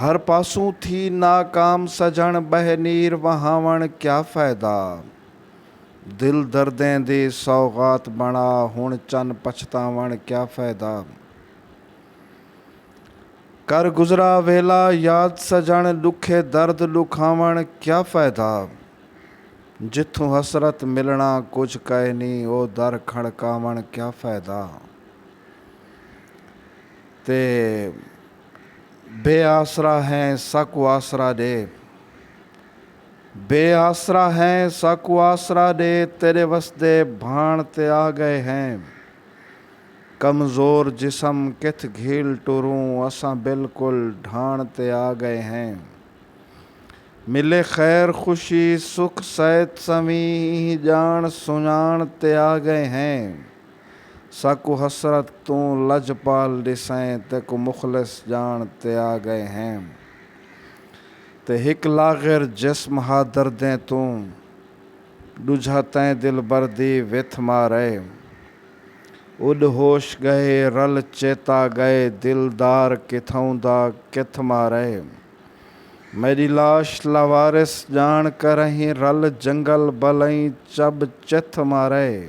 ہر پاسوں تھی ناکام سجݨ ٻہہ نیر وہاوݨ کیا فائدہ دل دردیں دی سوغات بݨا ہݨ چن پچھتاوݨ کیا فائدہ کر گزرا ویلا یاد سجݨ ݙکھے درد ݙکھاوݨ کیا فائدہ جتھوں حسرت ملݨاں کجھ کائنی او در کھڑکاوݨ کیا فائدہ۔ تے بے آسرا ہیں ساکوں آسرا ݙے۔ بے آسرا ہیں ساکوں آسرا ݙے تیݙے وسدے بھاݨ تے آ ڳئے ہیں۔ کمزور جسم کتھ گھیل ٹروں اساں بالکل ڈھاݨ تے آ ڳئے ہیں۔ ملے خیر خوشی سکھ صحت سویں ایں ڄاݨ سنڄاݨ تے آ ڳئے ہیں۔ ساکوں حسرت توں لجپال ݙیسئیں تیکوں مخلص ڄاݨ تے آ ڳئے ہیں تے ہک لاغر جسم ہا دردیں توں ݙوجھا تئیں دلبر دی وتھ مارئے اݙ ہوش ڳئے رل چیتا ڳئے دلدار کتھاؤں دا کتھ مارئے میݙی لاش لاوارث ڄاݨ کرئیں رل جنگل بھلئیں چب چتھ مارئے۔